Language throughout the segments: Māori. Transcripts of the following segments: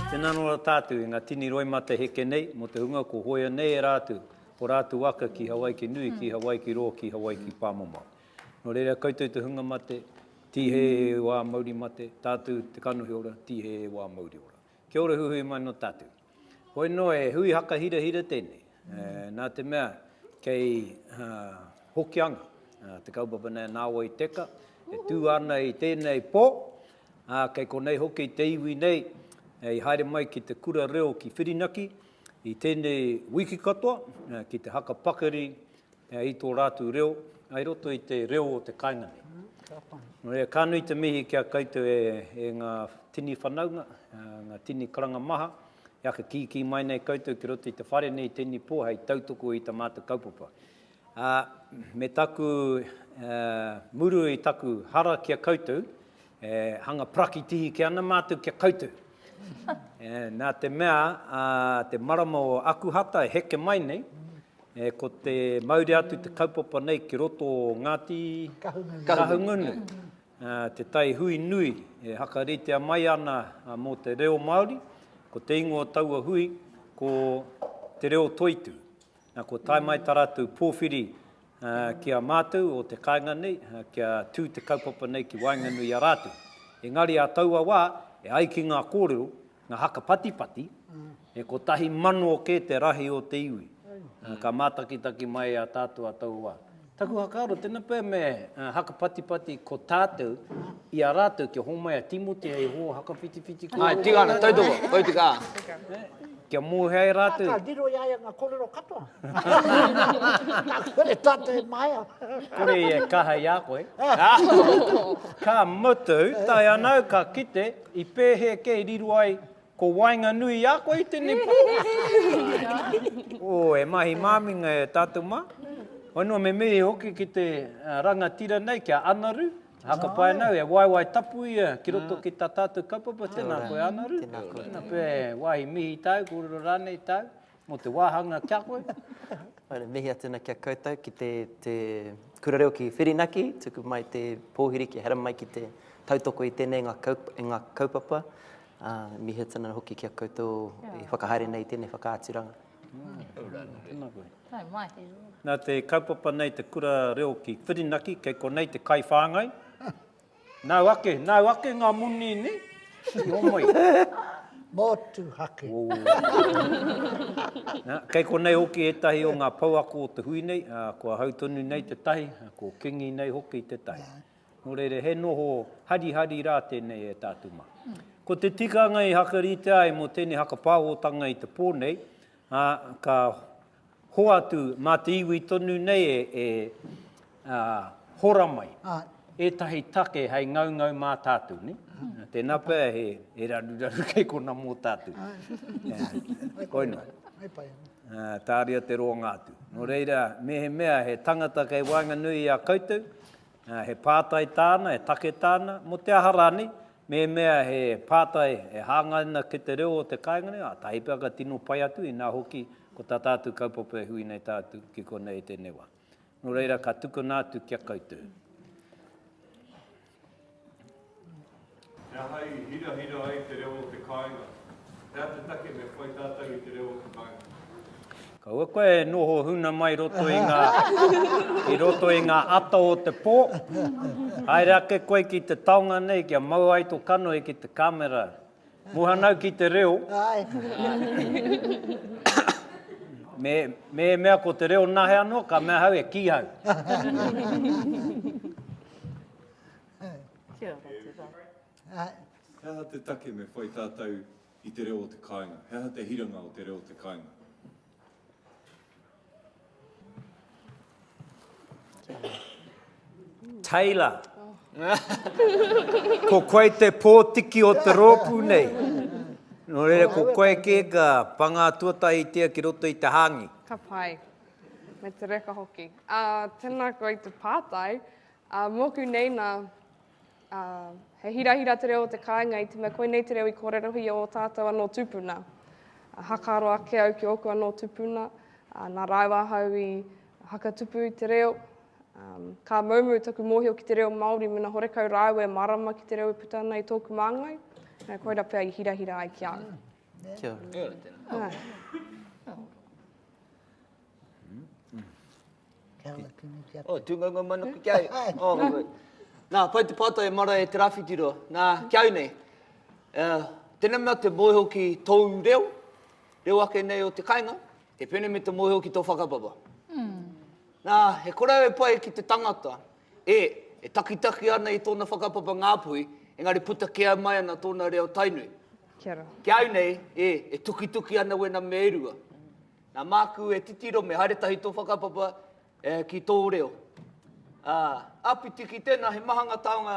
Tēnā anō rā tātou i ngā tini roimata heke nei mō te hunga kua hoea nei e rātou o rātou aka ki Hawaiki nui, ki Hawaiki rō, ki Hawaiki pāmamao. Nō reira koutou te hunga mate, tīhē e wā mauri mate, tātou te kanohi ora, tīhē e wā mauri ora. Kia ora huhui mai nō tātou. Hoi noa he hui haka hirahira tēnei, nā te mea kei Hokianga te kaupapa nei a Nāwai Teka, e tū ana i tēnei pō, ā, kei konei hoki te iwi nei i haere mai ki te kura reo ki Whirinaki i tēnei wiki katoa ki te haka pakari Pea i tō rātou reo, ai roto i te reo o te kāinga nei. Nō reira, ka nui te mihi ki a koutou e, e ngā tini whanaunga, ngā tini karanga maha, e aka kīkī mai nei koutou ki roto i te whare nei tēnei pō hei tautoko i tā mātou kaupapa. Ā, me taku, ā, muru i taku hara ki a koutou, E hanga prakitihi ke ana mātou kia koutou. E, nā te mea, a, te marama o Akuhata e heke mai nei, e, ko te mauri atu te kaupapa nei ki roto o Ngāti Kahungunu. Kahungunu. A, te tai hui nui e hakaritea mai ana a, mō te reo Māori, ko te ingoa o taua hui ko Te Reo Toitu. Na kua tae mai ta ratou powhiri ki a matou o te kainga nei kia tu te kaupapa nei ki waenganui i a ratou. Engari a taua wa e ai ki nga korero, nga haka patipati, e kotahi mano ke te rahi o te iwi. Ka matakitaki mai a tatou a taua wa. Taku whakaaro, tena pea me hakapatipati ko tatou i a ratou kia homai a Timoti hei ho hakawhitiwhiti koroua. Ae, tika ana, tautoko, koi te ka. Kia mohea e ratou. Ka riro i a ia nga korero katoa. Ka kore tatou e mahea. Kore ia e kaha i a koe. Ka mutu, tae ana au ka kite, i pehe kei riro ai Ko waenganui a koe i tenei pātai. Oh, e mahi māminga e tātou mā. Whanua me mihi hoki ki te rangatira nei, ki a Anaru. Haka pai nau, he waewae tapu ia ki roto ki tā tātou kaupapa. Tēnā koe Anaru. Tēnā pea he wāhi mihi tāu, kōrero rānei tāu. Mō te wāhanga kia koe. Haere, mihi atu ana kia koutou ki te, te kura reo ki Whirinaki, tuku mai te pōhiri kia hera mai ki te tautoko i tēnei ngā, kaup, i ngā kaupapa. Uh, mihi atu ana hoki kia koutou yeah. i whakahaere nei tēnei whakaaturanga. Nā, mai. Nā te kaupapa nei te kura reo ki Whirinaki, kei konei te kai whāngai. Nau ake, nau ake nga moni ne, i omoi. Motuhake. Kei konei hoki etahi o nga pouako o te hui nei, kua hau tonu nei te tahi, ko Kingi nei hoki te tahi. No reira he noho harihari ra tenei e tatu ma. Ko te tikanga i hakaritea ai mo tenei hakapawotanga i te po nei, ka Hoatu, mā te iwi tonu nei e hora mai ētahi take hei ngaungau mā tātou, nē? Tēnā pea he raruraru kei konā mō tātou. Koinā. Tāria te roanga atu. Nō reira, mehemea he tangata kei waenganui i a koutou, He pātai tāna, he take tāna, mō te aha rānei, mēmea he pātai e hāngai ana ki te reo o te kāinga nei, ātahi pea ka tino pai atu, inā hoki, ko tā tātou kaupapa e hui nei tātou ki konei i tēnei wā. Nō reira, ka tukuna atu ki a koutou. He aha i hirahira ai te reo o te kāinga? He aha te take me whai tātou i te reo o te kāinga? Kaua koe e noho huna mai roto i ngā, i roto i ngā ata o te pō. Haere ake koe ki te taonga nei kia mau ai to kanohi ki te kamera. Muhanau ki te reo. Me, me e mea ko te reo nahe anō, ka mea hau e kīhau. Kia ora, tēnā. He aha te take me whai tātou i te reo o te kāinga? He aha te hiranga o te reo o te kāinga? Taylor. ko koe te pōtiki o te rōpū nei. Nō reira, ko koe kē ka pangā tuatahitia ki roto i te hāngi. Ka pai. Me te reka hoki. Uh, tēnā koe i te pātai. Ā, mōku nei nā, ā, he hirahira te reo o te kāinga i te mea koinei te reo i kōrerohia ō tātou anō tūpuna. Ā, hakaaro ake au ki ōku anō tūpuna, ā, nā rāua ahau i hakatupu i te reo. Ā, ka moumou taku mōhio ki te reo Māori mēnā horekau rāua e mārama ki te reo e puta ana i tōku māngai, ā, koira pea i hirahira ai ki a au. Kia ora. Kia ora tēnā. Ā. Kia ora kino ki a koe. Oh, tūngaunga mai noku ki au. Nā, pai te pātai e mara e Te Rāwhitiroa. Nā, ki au nei, uh, tēnā mea te mōhio ki tōu reo, reo ake nei o te kainga, te pēne me te mōhio ki tō whakapapa. Mm. Nā, he korau e pai ki te tangata, e, e takitaki ana i tōna whakapapa ngāpuhi, engari puta kea mai ana tōna reo tainui. Kia ora. Ki au nei, e, e tukituki ana wena me e rua. Nā māku e titiro me haere tahi tō whakapapa ki tō reo. Āpiti ki tēnā, he maha ngā taonga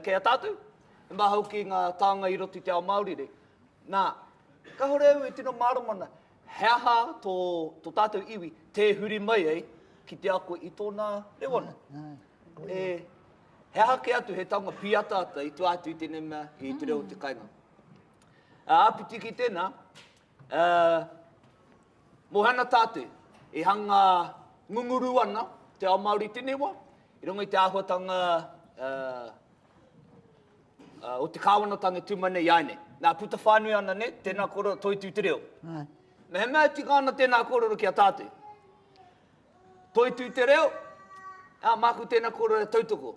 kei a tātou, he maha hoki ngā taonga i roto i te ao Māori nei. Nā, kāore au e tino mārama ana, he aha tō tātou iwi tē huri mai ai ki te ako i tōna reo anō. He aha kē atu he taonga pīataata i tua atu i tēnei mea, i te reo o te kainga. Āpiti ki tēnā, Ā, mō Hana Tate, i hanga ngunguru ana te ao Māori i tēnei wā, i runga i te āhuatanga ā, ā, o te Kāwanatanga e tū mai nei i āinei. Nā, puta whānui ana nei, tēnā kōrero, toitū te reo. Mehemea e tika ana tēnā kōrero ki a Tate, toitū te reo, ā, māku tēnā kōrero e tautoko.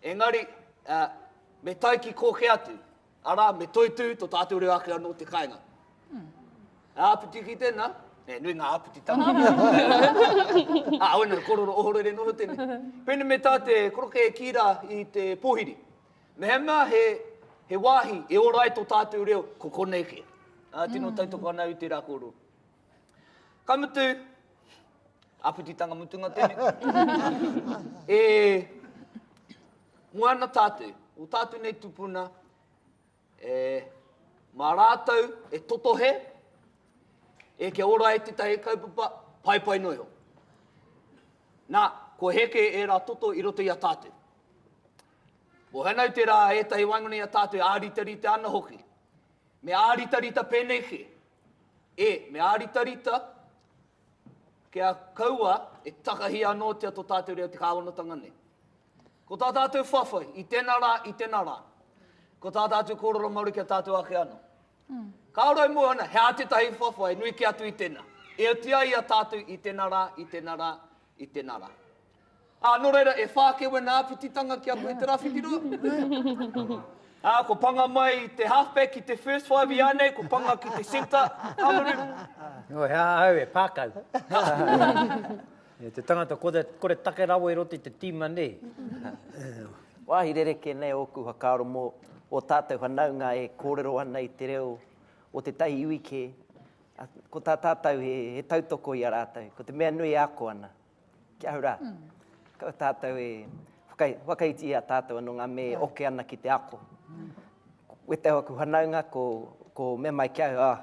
Engari, ā, me tae ki kō kē atu, Arā, me toitū tō tātou reo ake anō te kāinga. He āpiti ki tēnā, e, nui ngā āpiti tapu. Ā, oina te kororo ohorere noho tēnei. Pēnei me tā te koroke e kī rā i te pōhiri, Mehemea he, he wāhi e ora ai tō tātou reo, ko konei kē. Ā, tino tautoko ana au i tērā kōrero. Ka mutu, āpititanga mutunga tēnei, e moana tātou, o tātou nei tupuna, e mā rātou e totohe, e kia ora ai tētahi kaupapa, paepae noa iho. Nā, kua heke ērā toto i roto i a tātou. Mohenau tērā ētahi waingona i a tātou e āritarita ana hoki. Me āritarita pēnei kē. E, me āritarita, kia kaua e takahi anōtia tō tātou reo te kāwanatanga nei. Ko tā tātou whawhai, i tēnā rā, i tēnā rā. Ko tā tātou kōrero Māori kia tātou ake anō. Mm. Ka ora i mua ana, he ātetahi whawhai, nui ki atu i tēnā. E oti ai a tātou i tēnā rā, i tēnā rā, i tēnā rā. Ā, nō reira, e whā kē wena āpititanga ki a koe te rawhitiroa. Ā, kua panga mai te halfback ki te first five ianei, kua panga ki te centre, Hamaru. Nō hea ahau e pākau? E te tangata kore, kore take rawa i roto i te tīma nei. Wāhi rerekē nei ōku whakaaro mō ō tātou whanaunga e kōrero ana i te reo o tētahi iwi kē, ā, ko tā tātou he, he tautoko i a rātou, ko te mea nui e ako ana. Ki ahau rā, ko tātou e whakaiti i a tātou anō ngā mea e oke ana ki te ako. Wētahi o aku whanaunga, ko mea mai ki ahau,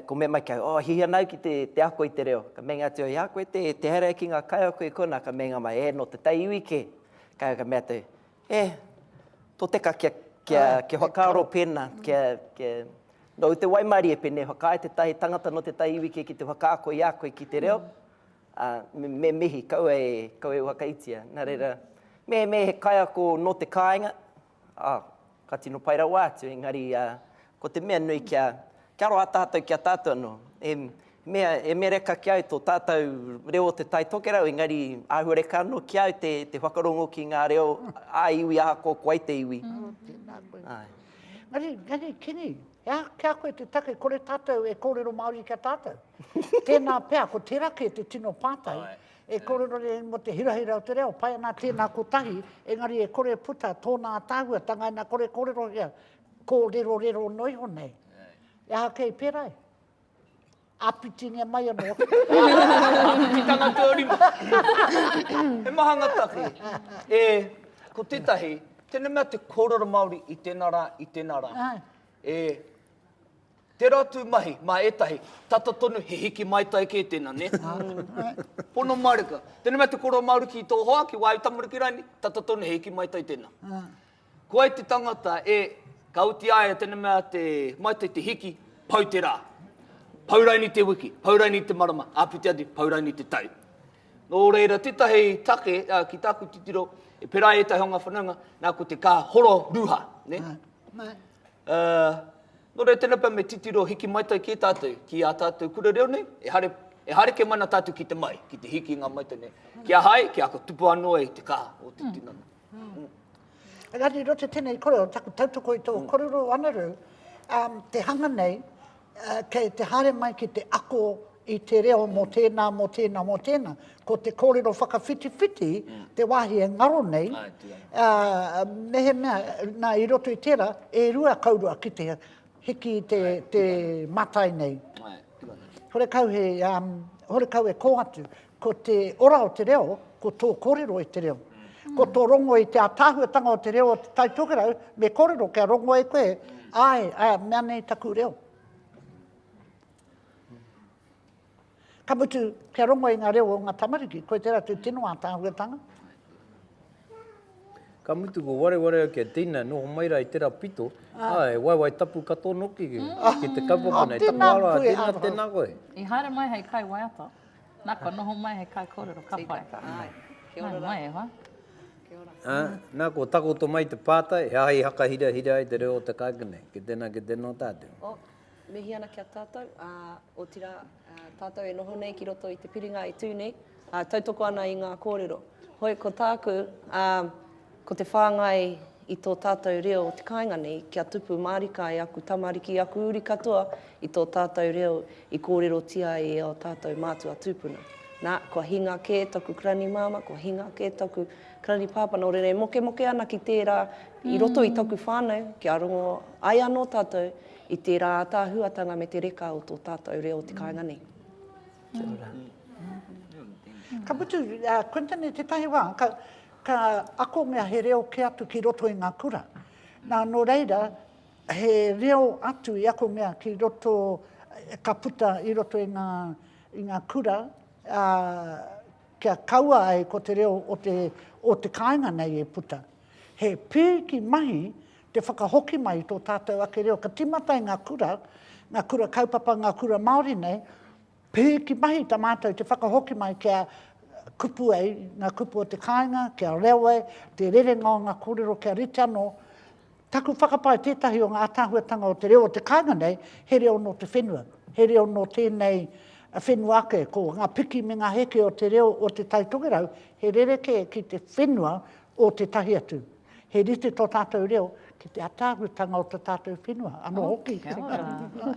ko mea mai ki ahau, oh, hihi ana au ki te ako i te reo. Ka meinga atu au, i a koe te haere ki ngā kaiako i konā? Ka meinga mai, e, nō te taiiwi kē. Ka mea atu au, He toteka kia, kia, kia whakaaro pēnā, kia, kia, nō te waimarie pēnei whakaae tētahi tangata nō tētahi iwi kē ki te whakaako i a koe ki te reo, ā, me, me mihi, kaua e, kaua e whakaitia. Nā reira, mehemea he kaiako nō te kāinga, ā, ka tino pai rawa atu, engari, ā, Ko te mea nui kia, kia roa tātou ki a tātou anō. He mea, he mea reka ki au tō tātou reo o Te Tai Tokerau, engari āhua reka anō ki au te, te whakarongo ki ngā reo ā-iwi ahakoa ko wai te iwi. Ā, tēnā koe. Āe. Engari, engari Kenny, he aha ki a koe te take kore tātou e kōrero Māori ki a tātou? Tēnā pea, ko tērā kē te tino pātai, e kōrero nei mō te hirahira o te reo, pai ana tēnā kotahi, engari e kore e puta tōna ātaahuatanga ina kore kōrerohia Kōrerorero noa iho nei. E aha kei pērā e? Āpitingia mai anō. Āpititanga tō rima. He maha ngā take. E, ko tētahi, tēnei mea te kōrero Māori i tēnā rā, i tēnā rā. E, tērā tū mahi, mā ētahi, tata tonu he hiki mai tai kē tēnā, nē? Pono mārika. Tēnei mea te kōrero Māori ki tō hoa, ki wāu tamariki rānei, tata tonu he hiki mai tai tēnā. Ko ai te tangata e, ka oti ai e tena mea te, mai te te hiki, pau te ra. Pau raini te wiki, pau raini te marama, apiti atu, pau raini te tau. No reira, tetahi take ki taku titiro, e pera ai etahi o nga whanaunga, na ko te ka horo ruha, ne? No reira, tena pea me titiro hiki maitai ki e tatou, ki a tatou kura reo nei, ehare, ehare ke mana tatou ki te mai, ki te hiki i nga maitai nei. Ki a hai, ki ako tupu ano ai te ka o te tinana. Engari roto tenei korero, taku tautoko i to korero o Anaru, um, te hanga nei, uh, kei te haere mai ki te ako i te reo mo tēnā, mo tēnā, mo tēnā. Ko te kōrero whakawhitiwhiti, mm. te wāhi e ngaro nei, uh, mehe mea, nā, i roto i tērā, e rua kaurua ki te hiki te, Ai, te matai nei. Ai, hore kau he, um, hore kau e kō atu. Ko te ora o te reo, ko tō kōrero i te reo. Ko tō rongo i te ātaahuatanga o te reo o Te Tai Tokerau, me kōrero kia rongo e koe, āe, āe, mea nei taku reo. Ka mutu, kia rongo i ngā reo o ngā tamariki, koe tērā tū tino ātaahuatanga. Ka mutu ko wareware au kia tina, noho mai rā i tērā pito, ā, ah. e waiwai tapu katoa noki ki, mm. ki te kaupapa nei. Tēnā koe, Aro. Tēnā koe. I haere mai hei kai waiata. Na kua noho mai he kaikorero ka pai. Kia ora mai e hoa. Kia ora. Ah, na kua takoto mai te pātai, he aha i hakahirahira ai te reo o te kāinga nei. Ki tēnā, ki tēnō tātou. Oh, mihi ana ki a tātou. Ah, otirā, ah, tātou e noho nei ki roto i te piringa e tū nei, ah, tautoko ana i ngā kōrero. Hoi, ko tāku, ah, Ko te whāngai i tō tātou reo o te kāinga nei kia tupu mārika e aku tamariki, aku uri katoa i tō tātou reo i kōrerotia ai e ō tātou mātua tūpuna. Nā, kua hinga kē taku Karani Māmā, kua hinga kē taku Karani Pāpā, nō reira e mokemoke ana ki tērā i roto i taku whānau kia rongo ai anō tātou i tērā ātaahuatanga me te reka o tō tātou reo o te kāinga nei. Kia ora. Ka mutu, Quinton, i tētahi wā, ka, Ka akongia he reo kē atu ki roto i ngā kura. Nā, nō reira, he reo atu i akongia ki roto, ka puta i roto i ngā, i ngā kura, ā, kia kaua ai ko te reo o te, o te kāinga nei e puta. He pīki mahi te whakahoki mai i tō tātou ake reo. Ka tīmata i ngā kura, ngā kura kaupapa, ngā kura Māori nei, Pīhiki mahi ta mātou te whakahoki mai kia kupu ai nga kupu o te kāinga, kia reo ai te rerenga o nga korero kia rite ano taku whakapae tetahi o nga atahuatanga o te reo o te kainga nei he reo no te whenua, he reo no tenei whenua ake, ko nga piki me nga heke o te reo o te Tai Tokerau he rerekē ki te whenua o tetahi atu. He rite tō tātou reo ki te ataahutanga o tā tātou whenua, anō hoki. Oh, kia ora.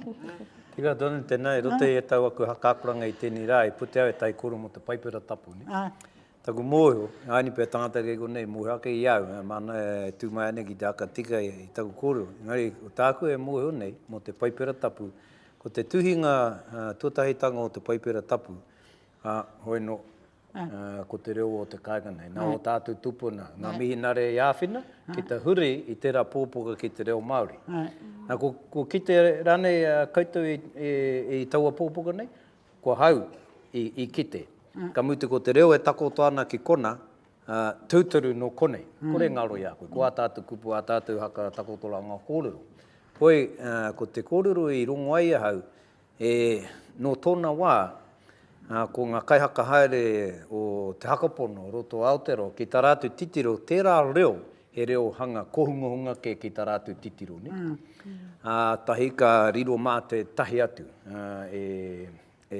Tira Don, tēnā, e roto i e tau aku haka-akoranga i tēnei rā, e pute au e taikoro mō te Paipera Tapu, ne? Āe. Taku mōhio, āni pea tangata kei konei, i mōhio ake i au, ā, māna e tū mai ana ki te haka tika i taku kōrero. Engari, ko tāku e mōhio nei mō te Paipera Tapu, ko te tuhinga tuatahitanga o te Paipera Tapu, ā, hoi nō, ko te reo o te kāinga nei. Nā o tātou tupuna, ngā mihinare i āwhina ki te huri i tērā pōpoka ki te reo Māori. Nā, kua kite rānei koutou i taua pōpoka nei? Ko hau i kite. Ka mutu ko te reo e takoto ana ki kona, tūturu nō konei. Kore e ngaro i a koe. Ko ā tātou kupu, ā tātou haka takotoranga kōrero. Hoi, ko te kōrero i rongo ai ahau, E, nō tōna wā, ko ngā kaihaka haere o Te Hakapono, Roto Aotearoa, ki tā rātou titiro, tērā reo, he reo hanga kōhungahunga kē ki tā rātou titiro, nē? Ā tahi ka riro mā tētahi atu e, e, e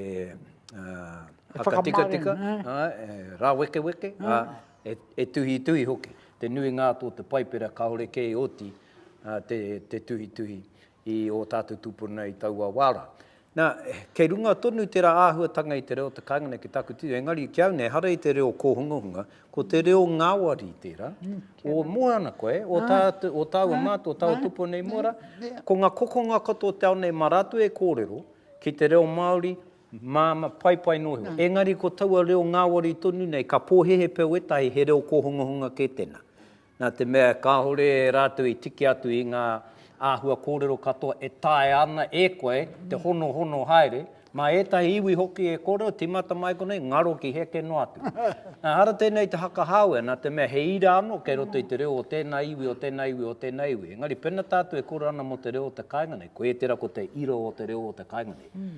whakatikatika, e rāwekeweke, ā, e, e tuhituhi hoki. Te nuinga atu o te Paipera kāore kē i oti te, te tuhituhi. i ō tātou tūpuna i taua wā rā. Nā, kei runga tonu tērā āhuatanga i te reo te kāinga nei ki tāku titiro, engari ki au nei, ehara i te reo kōhungahunga, ko te reo ngāwari tērā, o mua ana koe, o tātou, o tāua mātou, o tāua tūpuna i mua rā, ko ngā kokonga katoa o te ao nei mā rātou e kōrero ki te reo Māori, māmā, paipai noa iho. Engari ko taua reo ngāwari tonu nei, ka pōhēhē pea wētahi he reo kōhungahunga kē tēnā. Nā te mea kāore rātou i tiki atu i ngā āhua kōrero katoa e taea ana e koe te honohono haere, mā ētahi iwi hoki e kōrero tīmata mai konei, ngaro ki heke noa atu. Ehara tēnei te whakahāwea, nā te mea he ira anō kei roto i te reo o tēnā iwi, o tēnā iwi, o tēnā iwi. Engari pēnā tātou e kōrero ana mō te reo o te kāinga nei, koia tērā ko te ira o te reo o te kāinga nei.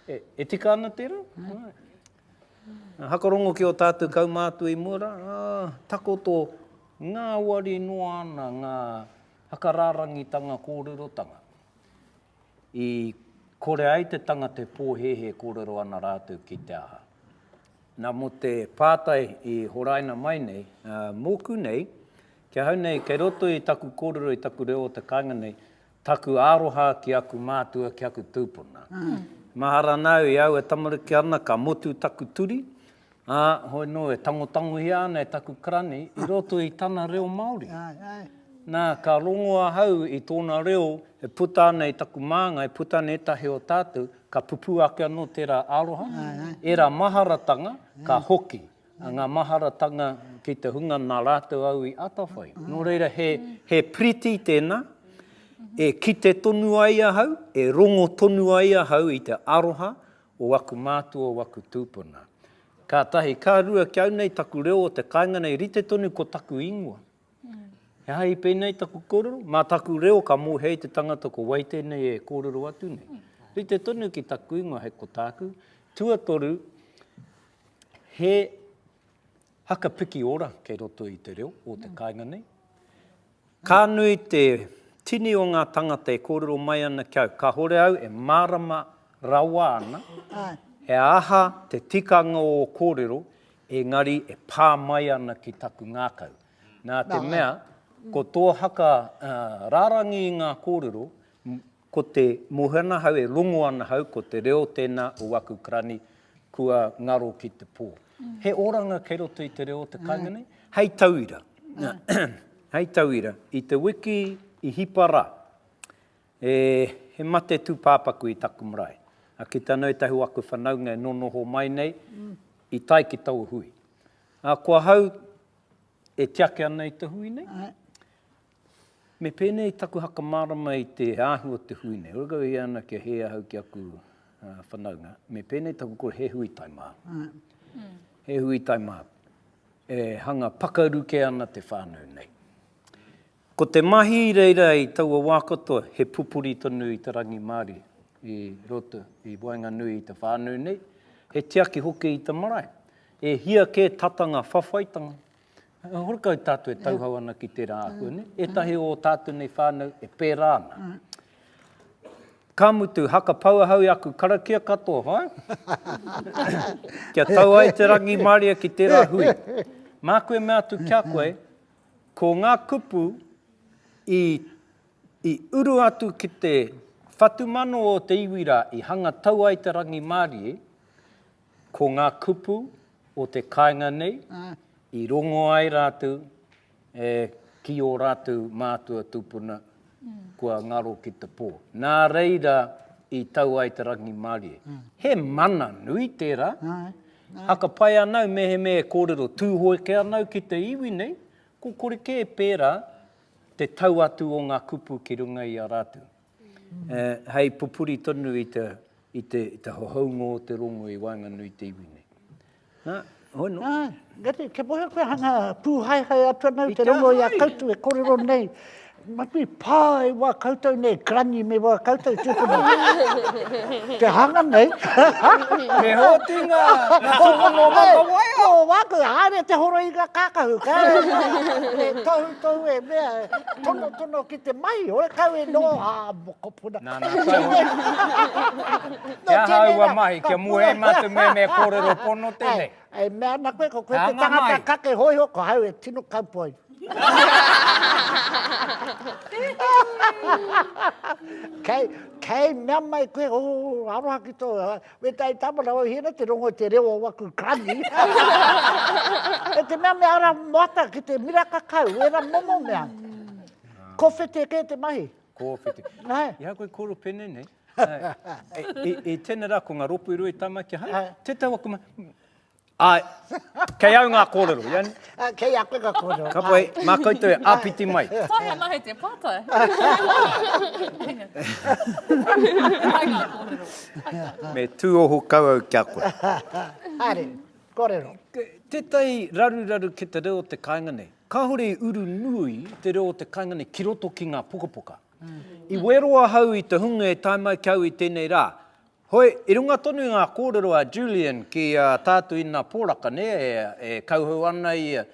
E tika ana tērā? Hakarongo ki o tatou kaumātua i mua ra, takoto ngāwari noa ana ngā whakarārangitanga kōrerotanga i kore ai te tangata e pōhēhē kōrero ana rātou ki te aha. Na, mo te pātai i horaina mai nei, mōku nei, ki ahau nei, kei roto i taku kōrero, i taku reo o te kāinga nei, Taku aroha ki aku mātua, ki aku tūpuna. Mahara nāu i aua tamariki ana ka motu taku turi, ā, hoi nō e tangotangohia ana e taku karani i roto i tana reo Māori. Nā, ka rongo ahau i tōna reo e puta ana i taku māngai, puta ana ētahi o tātou, ka pupū ake anō tērā aroha, ērā maharatanga ka hoki, Ngā maharatanga ki te hunga nā rātou au i atawhai. Nō reira, he, he piriti tēnā, e kite tonu ai ahau, e rongo tonu ai ahau i te aroha o aku mātua, o aku tūpuna. Ka tahi, ka rua, kia au nei taku reo o te kāinga nei, rite tonu ko taku ingoa. He aha i pēnei taku kōrero? Mā taku reo ka mōhia i te tangata ko wai tēnei e kōrero atu nei. Rite tonu ki taku ingoa hei ko tāku. Tuatoru, he haka piki ora kei roto i te reo o te kāinga nei. Ka nui te tini o ngā tangata e kōrero mai ana ki au, kāore au e mārama rawa ana he aha te tikanga o kōrero Engari e pā mai ana ki taku ngākau. Nā te mea, ko tō haka rārangi i ngā kōrero, ko te mōhio ana hau, e rongo ana hau, ko te reo tēnā o aku karani, kua ngaro ki te pō. He oranga kei roto i te reo o te kāinga nei? Hei tauira, hei tauira, i te wiki i hipa rā, E, he mate tūpāpaku i taku marae. A ki tāna ētahi o aku whanaunga e nōnoho mai nei, i tae ki taua hui. A ko ahau e tiaki ana i te hui nei. Ae. Me pēnei taku whakamārama i te ahu o te hui nei. Ora kau e hia ana kia hē ahau ki aku whanaunga, me pēnei taku kore, he hui tae māku. Ae. He hui tae māku. E hanga pakaru kē ana te whānau nei. Ko te mahi i reira i taua wā katoa, he pupuri tonu i te rangimārie i roto, i waenganui i te whānau nei, he tiaki hoki i te marae. E hia kē tata ngā whawhaitanga, horekau tātou e tauhou ana ki tērā āhua nei, ētahi o ō tātou nei whānau e pērā ana. Ka mutu, haka pau ahau i aku karakia katoa, whai? Kia tau ai te rangimārie ki tērā hui. Māku e mea atu ki a koe, Ko ngā kupu i i uru atu ki te whatumano o te iwi rā, i hanga tau ai te rangimārie, ko ngā kupu o te kāinga nei, i rongo ai rātou e, ki ō rātou mātua tūpuna. kua ngaro ki te pō. Nā reira i tau ai te rangimārie. He mana nui tērā. Haka pai ana au mehemea e kōrero Tūhoeke ana au ki te iwi nei, ko kore kē pērā te tau atu o ngā kupu ki runga i a rātou. Hei pupuri tonu i te hohounga o te rongo i waenganui i te iwi nei. Nā, hoi no. Nā, gati, kia mohe koe hanga pūhaehae atu ana i te rongo i a koutou e korero nei. Matu i pā e wā koutou nei, Granny me wā koutou tūpuna. Te hanga nei. Me hōti ngā, ngā tūpuna o Matawaia. Ko wā koe, haere te horo i ngā kākahu. Kāre, e tohu tohu e mea, tono tono ki te mahi, hoi kau e noa, ā, Kopuna. Nā, nā, taihoa. Nō tēnei rā. He aha aua mahi kia mua e mātou mea mea kōrero pono tēnei? E mea ana koe, ko koe te tangata kake hōiho, ko hau e tino kaupoi. Kei, kei mea mai koe, o, aroha ki tō, me tai tāmana o hira te rongo te reo o waku kani. e te mea mea ara moata ki te mira kakau, wera momo mea. Ko whete kē te mahi. Kōwhiti. Hai. I a koe koro pene nei. Hai. I tēne rā, ko ngā ropu i rua i tamakia. Hai. Hai. Te tau aku ma... Ai. Kei au ngā kōrero, i ani? Ai, kei a koe ngā kōrero. Ka pai, mā koutou e āpiti mai. Whai ana hei te pātai. Hai ngā kōrero. Me tūoho kau au ki a koe. Haere, kōrero. Tētahi raruraru ki te reo o te kāinga nei. Kāore i uru nui te reo o te kaingane ki roto ki ngā pukapuka. I wero ahau i te hunga e tae mai ki au i tēnei rā. Hoi, i runga tonu i ngā kōrero a Julian ki a Tātuina Poraka, nē, e kauhau ana ia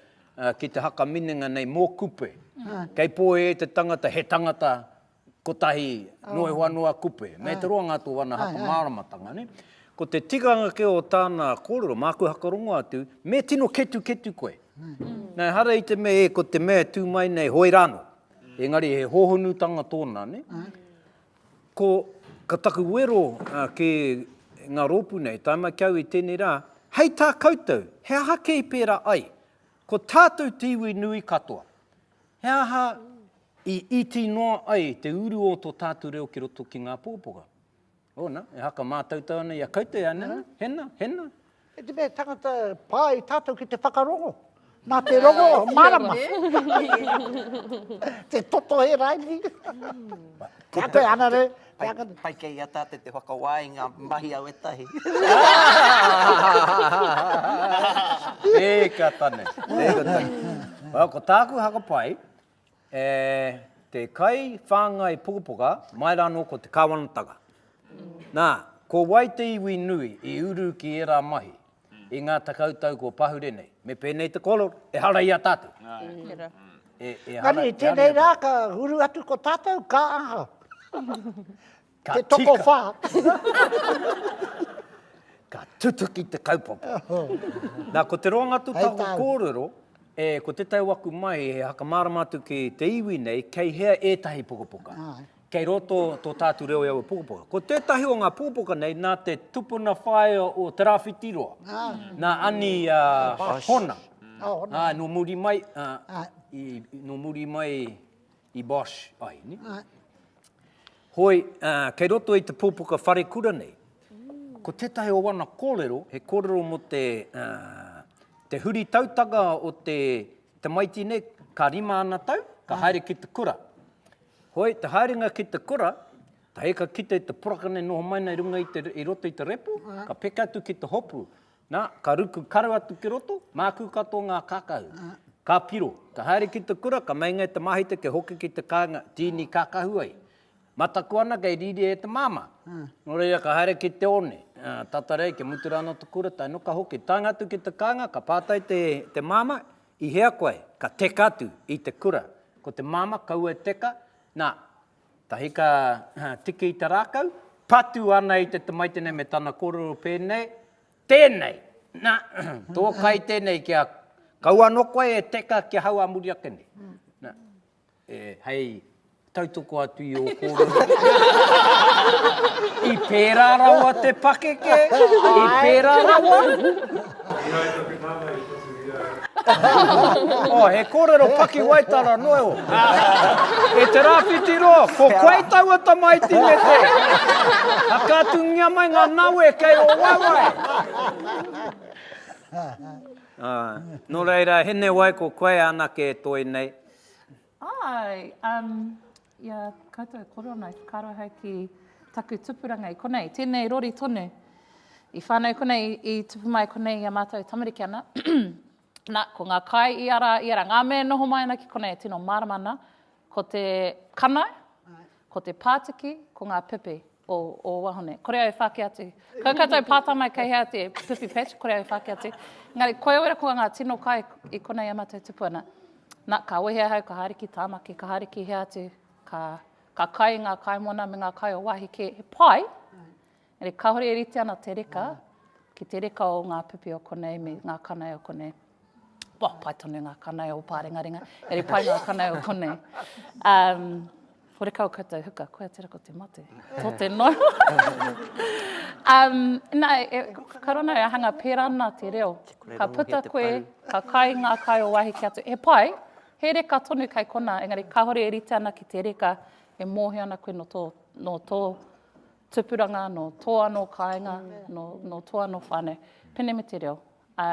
ki te haka minenga nei mō Kupe. Kei pōhēhē te tangata, he tangata kotahi noa iho anō a Kupe. Mei te roa ngā tō ana haka māramatanga, nē. Ko te tikanga kē o tāna kōrero, māku hakarongo atu, me tino ketuketu koe. Nā, ehara i te mea, e, ko te mea e tū mai nei, hoi rānō. Engari he hōhonutanga tōna, nē. Ko, ka taku wero ki ngā rōpū nei, tae mai ki au i tēnei rā, hei tā koutou, he aha kē i pērā ai? Ko tātou te iwi nui katoa. He aha I iti noa ai te uru o to tātu reo ki roto ki ngā pōpoka. Ōna, e haka mātautau ana i a koutou e ana, hena, hena. E te mea tangata pā i tātou ki te whakarongo. Nā te rongo, marama. te toto he raini. Ka koe ana re. Pai kei i a tātou te whakawā i ngā mahi a wetahi. Eka tane. Eka tane. Ko tāku haka pai, E te kai whāngai pukapuka, mai rā anō ko te Kāwanatanga. Nā, ko wai te iwi nui i uru ki ērā mahi i ngā tekau tau kua pahure nei? Me pēnei te kōrero, ehara i a tātou. Engari, i tēnei rā ka uru atu ko tātou, ka aha? Ka te tokowhā. Ka tutuki te kaupapa. Nā, ko te roanga-tū-tahu kōrero, e, ko te tau aku mai, e whakamārama atu ki te iwi nei, kei hea ētahi pukapuka. Kei roto tō tātou reo i aua pukapuka. Ko tētahi o ngā pukapuka nei, nā te tupuna whaea o Te Rāwhitiroa, nā Ani Hona. Nō muri mai, nō muri mai i Bosch ai, ne? Ai. Hoi, ā, kei roto i te pūpuka wharekura nei, ko tētahi o ana kōrero, he kōrero mō te, ā, te huri tautanga o te, te maiti nei, ka rima ana tau, ka haere ki te kura. Hoi, te haerenga ki te kura, hei ka kite te poraka nei noho mai nei runga i te, i roto i te repo, ka peka atu ki te hopu, Na, ka ruku karu atu ki roto, māku katoa ngā kakau. Ka piro. Ka haere ki te kura, ka meinga e te māhita kia hoki ki te kāinga, tīni kākahu ai. Mataku ana kei rīria e te māmā. Nō reira ka haere ki te one, tata rei kia mutu rānō te kura, tae noa ka hoki. Taenga atu ki te kāinga, ka pātai te māmā, I hea koe? Ka teka atu i te kura. Ko te māmā, kaua e teka, na, Tahi ka tiki i te rākau, patu ana i te tamaitenei me tana kōrero pēnei, Tēnei! Na, tō kai tēnei ki a kau anō koe e teka ki ahau ā muri ake nei. Na, e, hei tautoko atu i ō kōrero. I pērā rawa te pakeke, i pērā rawa. Tēnā i taku nana i. oh, he kōrero paki waitara noe o. e te rāwhiti roa, ko koe taua tamaiti me te. Hakatungia mai ngā nawe kei o wawai. Uh, nō reira, hene wai ko koe anake e toi nei. Hi, um, ia koutou e kore ana, ka aro hau ki taku tupuranga i konei. Tēnei rori tonu. I whānau konei, i tupu mai konei i a mātou tamariki ana. Na, ko ngā kai i ara, i ara, ngā mea noho mai ana ki konei e tino mārama ana, ko te kanau, ko te pātiki, ko ngā pipi. o ō wahine. Kore au e whāki atu. Kau koutou pātai mai kei hea te pupi patch, kore au e whāki atu. Engari, koe au e rakoa ngā tino kai i konei e mātou tupu ana. Nā, ka wehe ahau, ka haere ki Tāmaki, ka haere ki hea atu, ka, ka kai i ngā kaimona me ngā kai o wāhi kē, he pai, engari kāore e rite ana te reka ki te reka o ngā pupi o konei me ngā kanae o konei. Wah, pai tonu ngā kanai o Pārengarenga. Engari pai ngā kanai o konei. Um, horekau koutou huka, koia tera ko te mate. Tō te no. um, nā, e, ka rana e ahanga pērā nā te reo. Ka puta koe, ka kai ngā kai o wāhi ki atu. He pai, he reka tonu kai kona, engari kāhore e rite ana ki te reka, e mōhio ana koe no tō, no tō tupuranga, no tō anō kāinga, no, no tō anō whānau. Pene me te reo, Ā,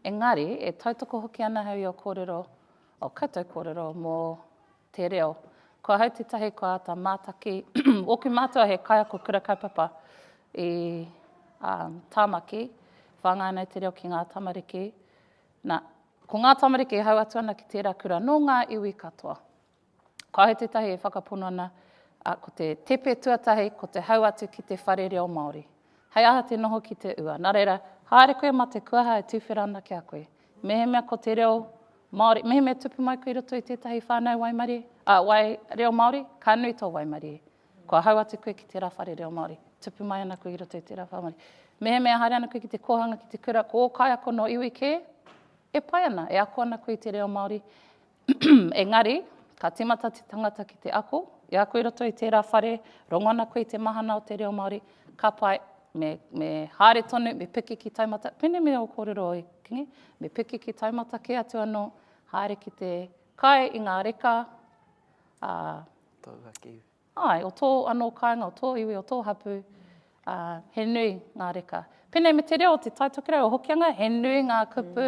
engari, e tautoko hoki ana au i ō kōrero, ō koutou kōrero mō te reo. Ko ahau tētahi kua āta mātaki, ōku mātua he kaiako kura kaupapa i ā, Tāmaki, whāngai ana i te reo ki ngā tamariki. Nā, ko ngā tamariki e hau atu ana ki tērā kura nō ngā iwi katoa. Kāhore tētahi e whakapono ana, ā, ko te tepe tuatahi ko te hau atu ki te whare reo Māori. Hei aha te noho ki te ua? Nā reira, haere koe mā te kuaha e tuwhera ana ki a koe. Mehemea ko te reo Māori, mehemea tupu mai koe i roto i tētahi whānau waimarie, ā, wai, reo Māori, ka nui tō waimarie. Kua hau atu koe ki tērā whare reo Māori, tupu mai ana koe i roto i tērā whare Māori. Mehemea haere ana koe ki te kōhanga, ki te kura, ko ō kaiako nō iwi kē, e pai ana, e ako ana koe i te reo Māori, Engari, ka tīmata te tangata ki te ako, i ako i roto i tērā whare, rongo ana koe i te mahana o te reo Māori, ka pai, me, me haere tonu, me piki ki taumata, pēnei me o kōrero e Kingi, me piki ki taumata kē atu anō, haere ki te kai i ngā reka, ā, Tauaki iwi. Āe, o tō anō kāinga, o tō iwi, o tō hapū, ā, he nui ngā reka. Pēnei me te reo o Te Tai Tokerau o Hokianga, he nui ngā kupu,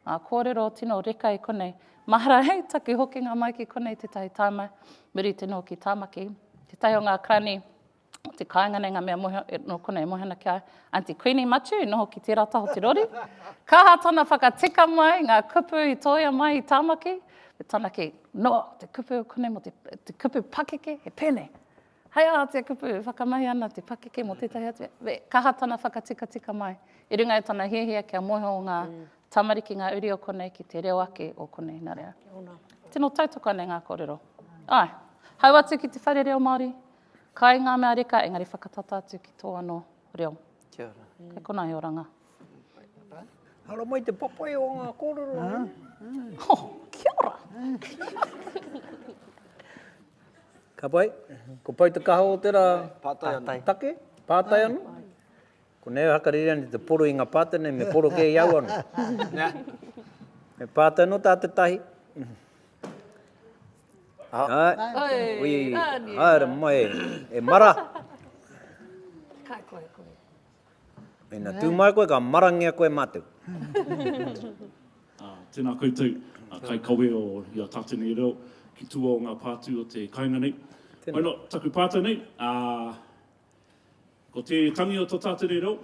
ngā kōrero tino reka i konei. Mahara hei taku hokinga mai ki konei tētahi tāima, muri te noho ki Tāmaki. Tētahi o ngā karani o te kāinga nei, ngā mea mohi, nō konei e mohi ana ki a Aunty Queenie Matiu i noho ki tērā taha o te rori. Ka aha tana whakatika mai, ngā kupu i tōia mai i Tāmaki, He taunaki noa te kupu o konei mō te kupu pakeke, he pēnei, Hei aha te kupu e whakamahi ana te pakeke mō tētahi atu mea? Me kaha tana whakatikatika mai i runga i tana hiahia kia moe o ngā tamariki ngā uri o konei ki te reo ake o konei. Nā reira, tino tautoko ana i ngā kōrero. Āe, hau atu ki te Whare Reo Māori, kai ngā mea reka engari whakatata atu ki tō anō reo. Kia ora. Kei konā he oranga. Ara mai te papai o nga korero. Ha, kia ora. Ka pai, ko Pau te kaha o te ra. Patai anu. Take, patai anu. Ko nei hakarere ane te poro i nga patai nei, me poro ke i au anu. Me patai no ta te tahi. Hai, ui, haere mai, e mara. Ka koe, koe. Ina tū mai koe ka marangia koe mātou. Tēnā koutou a kaikawe o i a tātou nei reo ki tua o ngā pātū o te kainga nei. Why not taku pātai nei, ko te tangi o tō tātou nei reo,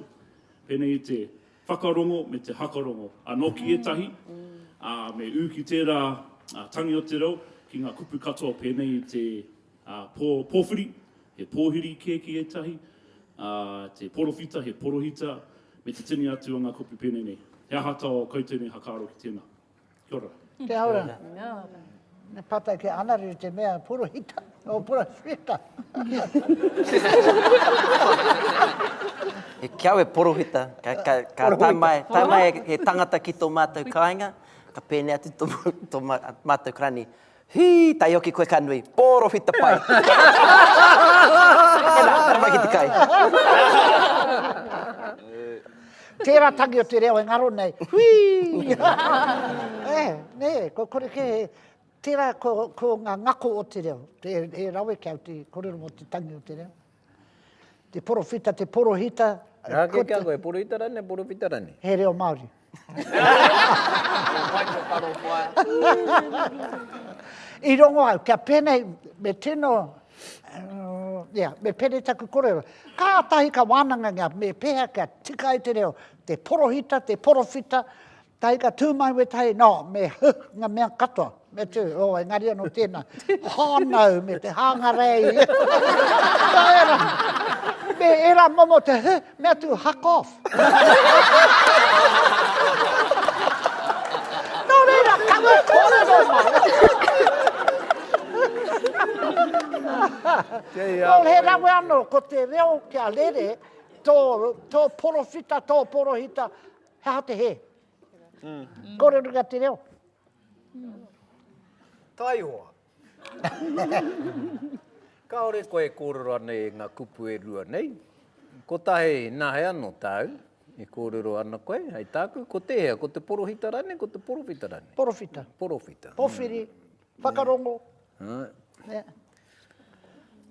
pēnei i te whakarongo me te hakarongo anō ki ētahi, ā, me ū ki tērā tangi o te reo ki ngā kupu katoa pēnei i te pō pōwhiri, He pōhiri kēki ētahi, ā, te porowhita, he porohita, me te tini atu o ngā kupu pēnei nei. He aha tō kou tēnei hakaaro ki tēnā? Kia ora. Kia ora. Kia ora. Me pata ki a Anariri te mea porohita, o porowhita. He kiau e porohita, ka tae mai, tae mai he tangata ki tō mātou kāinga, ka pēnei atu tō mātou rani, Hi! Taioki koe ka nui. Porowhita pai! Tena, tana mai ki te kai. Tera tangi o te reo e ngaro nei. Hui! E, ne, kua kore ke, tera ko, ko nga ngako o te reo. He, he rawe kia te korero mo te tangi o te reo. Te porowhita, te porohita. Rā kē kia koe, porohita rānei, porowhita rānei? He reo Māori. I rongo au, kia pēnei, me tino, yeah, me pēnei taku korero. Kātahi ka wānangangia me pēhea kia tika ai te reo, te porohita, te porowhita, Tae ka tū mai wētahi, nō, me huh, ngā mea katoa, me tū, o, engari anō tēnā, hānau, me te hāngarei. Nō ērā, me ērā momo te huh, me atu, huck off. Nō reira, kawe kōrero mai. Nō he rawe anō, ko te reo kia rere, tō, tō porowhita, tō porohita, He aha te hē? Kōrerotia te reo. Taihoa. Kāore koe e kōrero ana e ngā kupu e rua nei. Kotahi, nā hea anō tāu e kōrero ana koe? Hei tāku, ko tēhea, ko te porohita rānei, ko te porowhita rānei? Porowhita. Porowhita. Powhiri, whakarongo.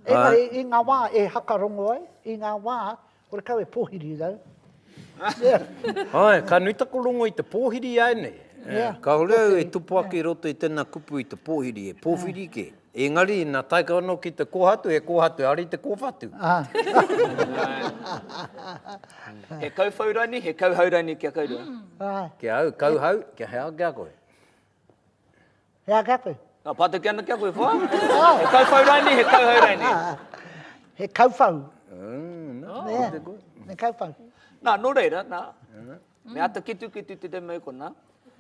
Engari, i ngā wā e hakarongo ai, i ngā wā Kore kau e pōhiri rau. Ae, ka nui taku rongo i te pōhiri i aenei. Kahore au e tupu ake i roto i tena kupu i te pōhiri, e pōwhiri ke. Engari, na tae kau ano ki te kohatu, he kohatu, ari te kowhatu. He kauwhau rani, he kauhau rani kia kau rua. Kia au, kauhau, kia he aha kia koe. He aha ki a koe? Ka patuke ana ki a koe, wha? He kauwhau raini, he kauhau raini? He kauwhau. He kauwhau. Na, no reira, na, me ata kitukitu te demo i kona,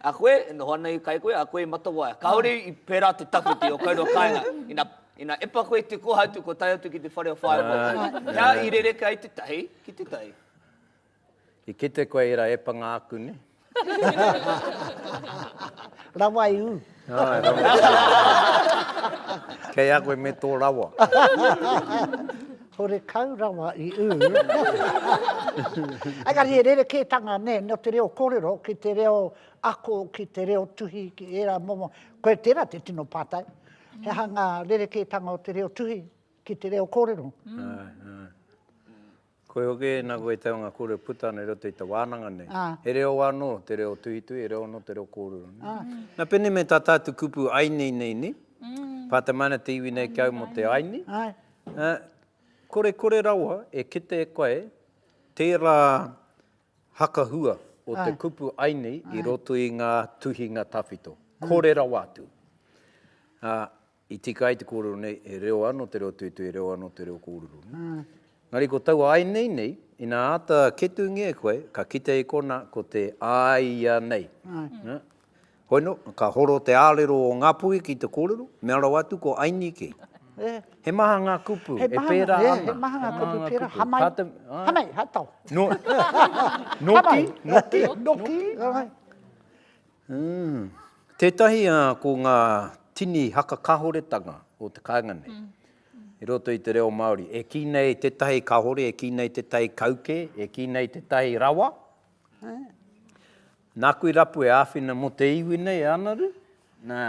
a koe, e noho ana i kai koe, a koe i matawaia. Kaore i pera te tawhiti o kaurua kainga, ina, ina epa koe i te koha atu kua tae atu ki te whare o whaea. He aha i rereka ai te tahi ki te tahi? I kite koe i ra epanga aku ne. Rawa i u. Ae rawa. Kei a koe me to rawa. Horekau rawa i u. Engari he rerekētanga ne no te reo korero ki te reo ako ki te reo tuhi ki era momo koe tera te tino patai he aha nga rerekētanga o te reo tuhi ki te reo korero. Ae ae. Koe hoki, nā koe te anga kore puta ana i roto i te wānanga nei. He reo anō, te reo tuhituhi, he reo anō te reo kōrero. Nā pēnei me tā tātou kupu aiinei nei ni, pātamaina te iwi nei ki au mō te aiini, kore kore rawa e kite e koe tērā hakahua o te kupu aiini i roto i ngā tuhinga tawhito. Kore rawa atu. I tika ai te kōrero nei, he reo ano te reo tuitui, he reo ano te reo kōrero. Engari ko taua ainei nei, ina āta ketungia e koe, ka kite i kona ko te a ia nei. Hoi no, ka horo te arero o Ngapui ki te kōrero, mea rawa atu ko Ainike. He maha nga kupu, e pērā ana. He maha nga kupu, pērā, hamai, hamai, hatau. Noki, noki, noki. Umm. Tētahi ā, ko ngā tini haka kāhoretanga o te kāinga nei i roto i te reo Māori. E kī nei tētahi kāhore, e kī nei tētahi kauke, e kī nei tētahi rawa. Nāku i rapu e āwhina mō te iwi nei e Anaru, nā,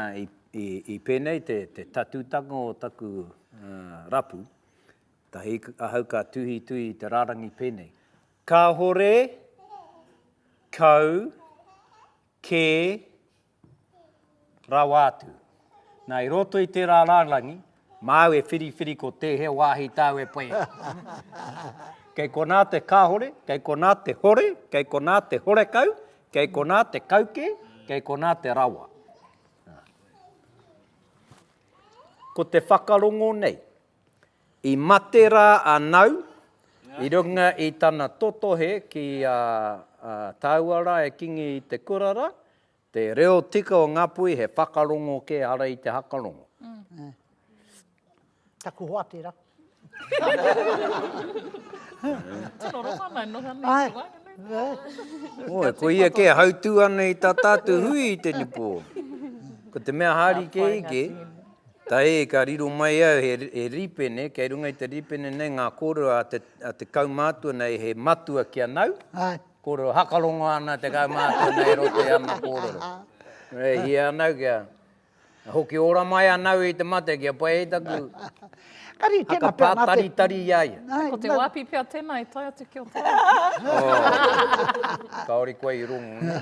i pēnei te tatūtanga o taku rapu, ahau ka tuhituhi i te rārangi pēnei. Kāhore, kau, kē, rawa atu. Nā, i roto i tērā rārangi, māu e whiriwhiri ko tēhea wāhi tāu e pai ana. Kei konā te kāhore, kei konā te hore, kei konā te horekau, kei konā te kaukē, kei konā te rawa. Ko te whakarongo nei, I mate rā a Nau i runga i tana totohe ki a tāua rā e kingi i te kura rā, te reo tika o Ngāpuhi he whakarongo kē ara i te hakarongo. Taku hoa tērā. Tino rongo ana e noho ana i te waenganui. Oi, ko ia kē hautū ana i tā tātou hui i te nipo. Ko te mea hari kē ike, Tahi, ka riro mai au he he rīpene, kei runga i te rīpene nei ngā kōrero a te a te kaumātua nei he matua ki a nau, kōrero hakarongo ana te kaumātua nei e roto i ana kōrero. E hia ana kia hoki ora mai a nau i te mate kia pai ai taku whakapātaritari i a ia. Ko te wāpi pea tēnā i tae atu ki o te ao. Kāore koe i rongo.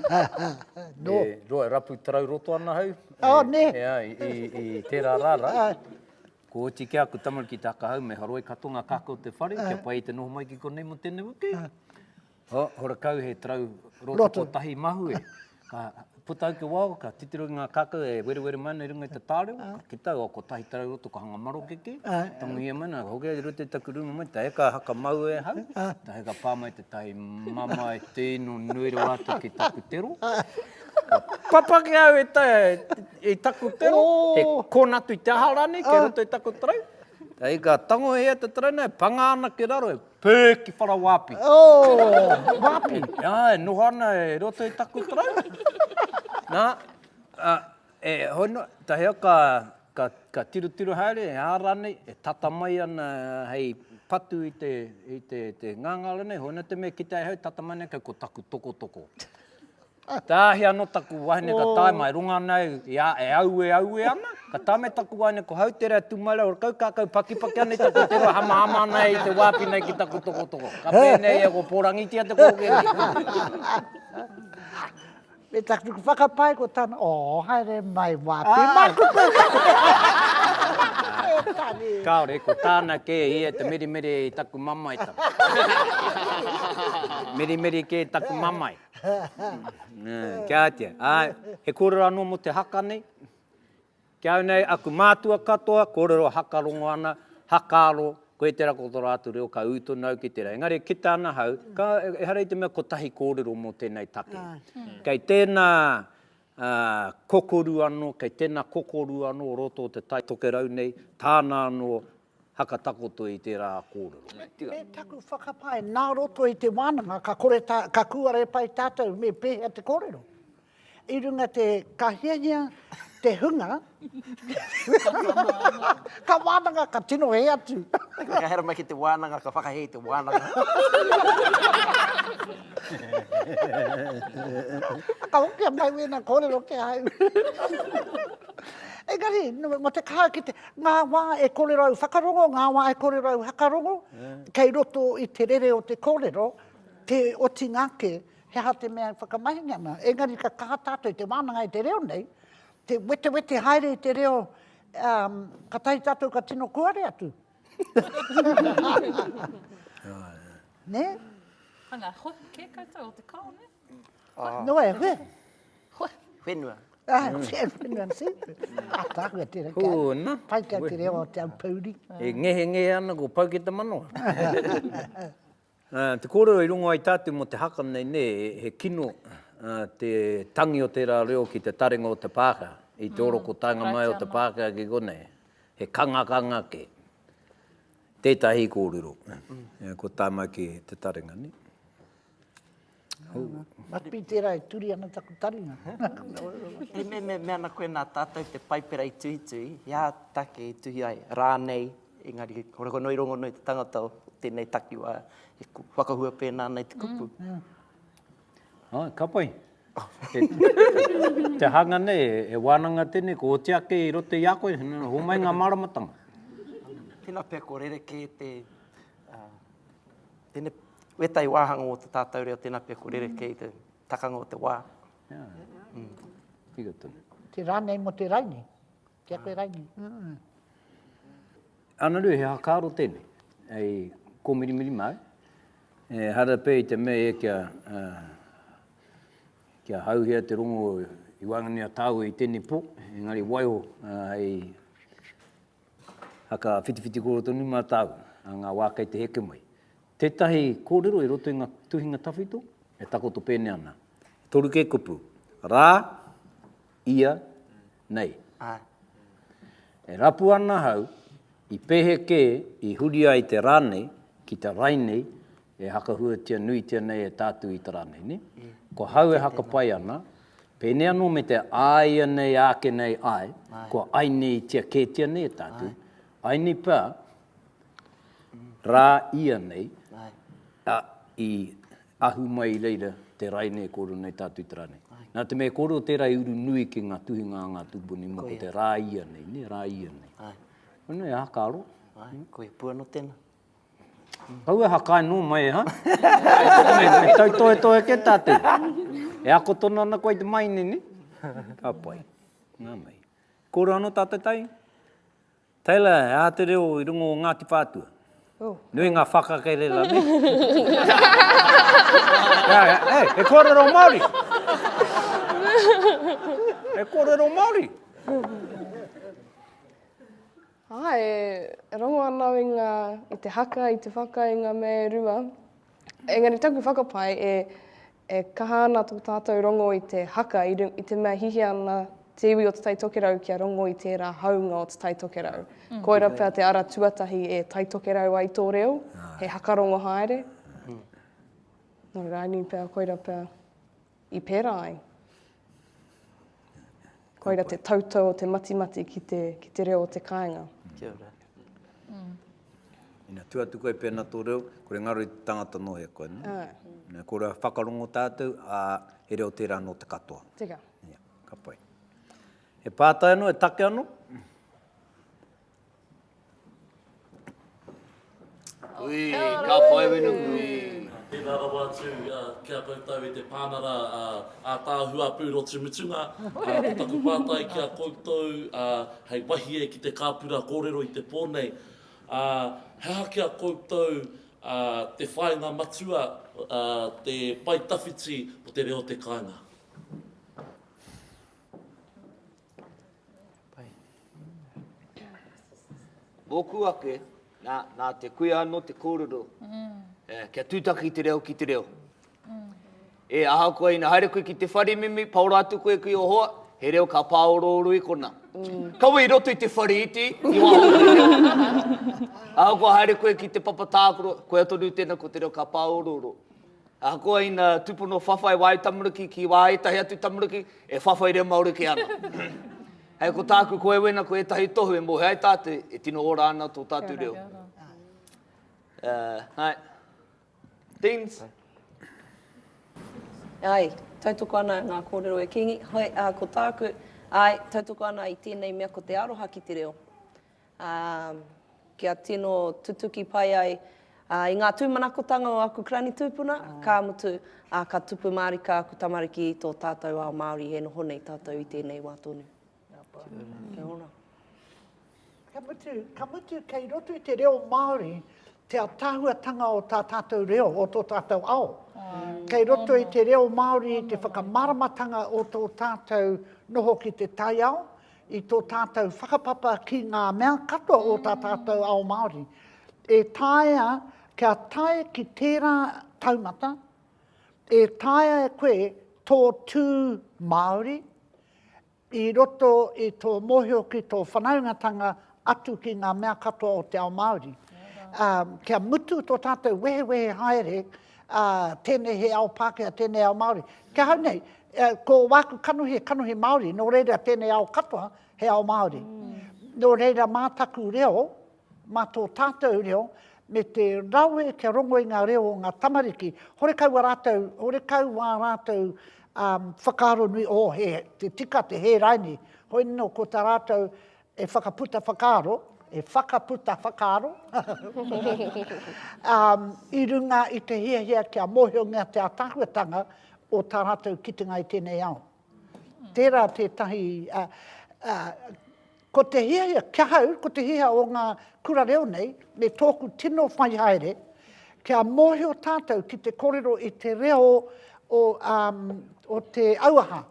E rapu tarau roto ana hau. Oh, nē. E ai, i, i tērā rā rā. Ko oti ki aku tamariki te hakahau, me haroi katoa ngā kākau o te whare, kia ah. pai te noho mai ki konei mo tēnei wiki. Ah. Ho, hora kau he trau roto, roto. kotahi mahue. Ka puta au ki wao, ka titiro ki ngā kākau e werewere mai nei runga i te tārewa. Ah. Ka kita au, o kotahi trau roto, ka hanga maro ke ke. Ah. Tanguhia mai nā, hoki ai roto i taku runga mai, ta heka haka mau e hau, ah. ta heka pā mai te tahi mama e tēno nui rawa atu ki taku tero. Ah. Papaki au e ta, i taku tero, he kona atu i te aha ranei, kei roto i taku tarau. Hei ka tango e ia te tarau nei, panga ana ki raro, e pē ki whara wapi. Oh, wapi? Ah, e noho ana e roto i taku tarau. Na, ah, e hoi no, tahea ka, ka, ka tirotiro haere, e aha ranei, e tata mai ana hei patu i te, i te, te ngangara nei, hoi no te mea kitea e hau, tata mai ana kei ko taku tokotoko. Tāhia anō taku wahine ka tae mai, runga ana au i a, e aue aue ana, ka tae mai taku wahine ko Hautere a Tūmaire, ora kau kākau pakipaki ana i taku te roa, hamahama ana e i te wāpi nei ki taku tokotoko. Ka pēnei ia kua pōrangitia te kōkē nei. Me taku whakapae ko tana, oo, haere mai wāpi māku koe katoa. Kāore, ko tāna kē ia te mirimiri i taku mamae tau. Mirimiri kē taku mamae. Kia tia. Ai, he kōrero anō mō te haka nei. Ki au nei, aku mātua katoa, kōrero haka rongo ana, hakaaro, koe tērā ko tō rātou reo, ka ū tonu au ki tērā. Engari e kita ana hau, ka, ehara i te mea kotahi kōrero mō tēnei take. Kei tēnā kokoru anō, kei tēnā kokoru anō o roto o te Taitokerau nei, tāna anō haka takoto i tērā kōrero. Me taku whakapae, nā roto i te wānanga, ka kore tā, ka kūare pai tātou me pēhea te kōrero. I runga te, ka hiahia te hunga, ka wānanga, ka tino hē atu. Ka hera mai ki te wānanga, ka whakahē i te wānanga. Ka hokia mai wēnā kōrero ki ahau. Engari, mō te kaha ki te, Ngā wā e korerau whakarongo, ngā wā e korerau hakarongo, kei roto i te rere o te kōrero, te otinga ake, he aha te mea e whakamahinga ana. Engari ka kaha tātou te wānanga i te reo nei, te wetewete haere i te reo, ka tahi tātou ka tino kuare atu. Nē? Anga hoki kē koutou o te kao, nē? Noa e hue. Whenua. Ah, whenua si. Tākua te reka. Kūna. Pai kia te reo o te aupouri. E ngehe ngehe ana ko pau ki te manoa. Te kōrero i rungo ai tātou mō te haka nei nē, he kino te tangi o tērā reo ki te taringa o te Pākehā, i te oroko taenga mai o te Pākehā ki konei. He kangakanga kē. Tētahi kōrero, ko tāna ki te taringa nē. Must be tērā e turi ana taku taringa. He meme mea ana koe nā tātou te Paipera i tuhituhi, he aha take i tuhi ai rānei, engari rongonui, rongonui te tangata o tēnei takiwā e whakahua pēnā ana i te kupu. Ka pai. Te hanga nei, e wānanga tēnei, ko oti ake i roto i a koe, homai ngā māramatanga. Tēnā pea ko rerekē te. Tēnei wētai wāhanga o te tātau reo tēnā pia ko rerekē i te takanga o te wā. Yeah. Mm. Tika tonu. Te rānei mo te raini. Kia koe raini. Mm. Ana rui, he hakaro tēnei. Ei, ko mirimiri mai. E hara pē i te mea e kia, uh, kia hauhia te rongo i wāngani a tāua i tēnei pō. Engari waiho, uh, hei, Whakawhitiwhiti kōrero tonu mātāu, a ngā wā kei te heke mai. Tētahi kōrero i roto i ngā tuhinga tawhito e takoto pēnei ana, toru kē kupu, rā, ia, nei. E rapu ana ahau, i pehe kē i huri ai te rā nei ki te Rainei e hakahuatia nuitia nei e tātou i te rā nei, nē? Ko hau e hakapai ana, pēnei anō me te āia nei āke nei ai, kua aineītia kētia nei e tātou, aini pea rā ia nei i ahu mai i reira te raine e kōrero nei tātou i te rā nei. Nā te mea e kōrero tērā i uru nui ki ngā tuhinga a ngā tūpuni mō te rā ia nei, nē, rā ia nei. Koinei e hakaaro. Koe pū anō tēnā. Kau e hakae nō mai e ha? Me tautohetohe kē tātou. E ako tonu ana koe i te maine, nē? Ka pai. Nā mai. Kōrero anō tātou tai? Taylor, he aha te reo i runga o Ngāti Whātua? Oh. Nui ngā whakakererā, nē? Hei, he kōrero Māori! He kōrero Māori! Ā, e rongo ana au i ngā, i te haka, i te whaka, i ngā mea e rua. Engari taku whakapae, e, e kaha ana tō tātou rongo i te haka, i, i te mea hihia ana te iwi o Te Tai Tokerau kia rongo i tērā hāunga o Te Tai Tokerau. Mm. Koira pea te ara tuatahi e Tai Tokerau ai tō reo, he haka rongo haere. Mm. Nō rānei pea, koira pea. i pērā ai. Koira te tautau o te matimati ki te, ki te reo o te kāinga. Kia ora. Mm. Ina tu atu koe pēna tō reo, kore ngaro i te tangata nō he koe. No? Ah. Kore a whakarongo tātou, a he reo tērā nō te katoa. Teka. Yeah. Ka pai. He pātai anō, he take anō? Ui, ka whai wenu kui. Tēnā rawa atu ki a koutou e te Pānara ātaahua pūrotu mutunga, ko taku pātai ki a koutou hei wahie ki te kāpura kōrero i te pō nei, he aha ki a koutou te whāinga matua, te pae tawhiti o te reo o te kāinga? Mōku ake, nā te kuia anō te kōrero, kia tūtaki te reo ki te reo. E, ahakoa ina haere koe ki te whare, Mimi, paora atu koe ki o hoa, he reo ka pāorooro i kona. Kaua i roto i te whare iti, i waho o te reo. Ahakoa haere koe ki te papa tākaro, koia tonu tēnā ko te reo ka pāorooro. Ahakoa ina tupono whawhai wāu tamariki ki wā ētahi atu tamariki, e whawhai reo Māori kē ana. Hei ko tāku ko Ewena ko ētahi tohu e mōhio ai tātou e tino ora ana tō tātou reo. Hai. Deans. Hai, tautoko ana i ngā kōrero e Kingi. Hai, ko tāku, hai, tautoko ana i tēnei mea ko te aroha ki te reo. ā, kia tino tutuki pai ai i ngā tūmanakotanga o aku Karani tūpuna, ka mutu, ā, ka tupu mārika aku tamariki i tō tātou ao Māori e noho nei tātou i tēnei wā tonu. Kia ora. Ka mutu, ka mutu kei roto i te reo Māori te atahuatanga o tā tātou reo, o tō tātou ao. Kei roto i te reo Māori te whakamaramatanga o tō tātou noho ki te taiao, i tō tātou whakapapa ki ngā mea katoa o tā tātou ao Māori, e taea kia tae ki tērā taumata, e taea e koe tō tū Māori i roto i tō mōhio ki tō whanaungatanga atu ki ngā mea katoa o te ao Māori. Yeah. Um, kia mutu tō tātou wehewehe haere, yeah ā, tēnei he ao Pākehā, tēnei ao Māori. Ki ahau nei, ko wāku kanohi, he kanohi Māori, nō reira tēnei ao katoa, he ao Māori. Nō reira mā taku reo, mā tō tātou reo, me te rawe kia rongo i ngā reo o ngā tamariki, horekau wā rātou, horekau wā rātou whakaaro nui, oh, he, te tika, te hēraini, hoi nō ko tā rātou, E whakaputa whakaaro, e whakaputa whakaaro, um, i runga i te hiahia kia mōhiongia te atahuatanga o tā rātou kitenga i tēnei ao. Tērā tētahi, uh, uh, ko te hiahia, kia hau, ko te hiahia o ngā kura reo nei, me tōku tino whai haere, kia mōhio tātou ki te kōrero i te reo o, um, o te auaha,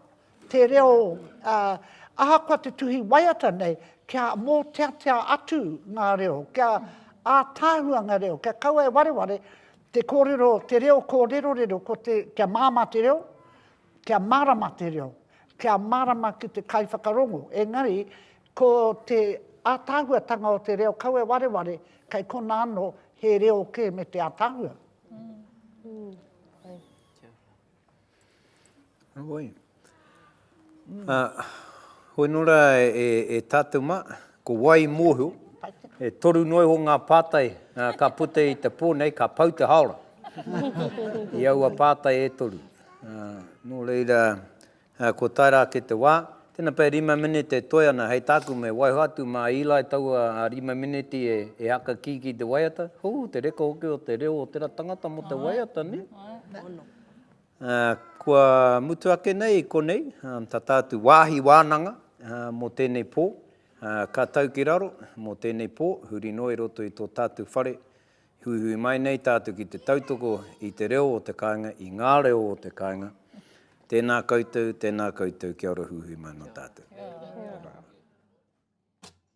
te reo, ā, ahakoa te tuhi waiata nei, kia mōteatea atu ngā reo, kia ātaahua ngā reo, kia kaua e wareware te kōrero, te reo kōrerorero, ko te, kia māmā te reo, kia mārama te reo, kia mārama ki te kaiwhakarongo. Engari, ko te ātaahuatanga o te reo, kaua e wareware, kei konā anō, he reo kē me te ātaahua. Heoi. Hoi nō rā e tātou mā, ko wai i mōhio, e toru noa iho ngā pātai ka puta i te pō nei, ka pau te haora i aua pātai e toru. Nō reira, kua tae rā ake te wā, tēnā pea rima minete e toe ana hei tāku me waiho atu mā Eli taua rima mineti e haka kī ki te waiata, hū, te reka hoki o te reo o tērā tangata mō te waiata, nē? Kua mutu ake nei i konei tata atu wāhi wānanga mō tēnei pō. Ka tau ki raro mō tēnei pō, huri noa i roto i tō tātou whare. Huihui mai nei tātou ki te tautoko i te reo o te kāinga, i ngā reo o te kāinga. Tēnā koutou, tēnā koutou, kia ora huihui mai no tātou.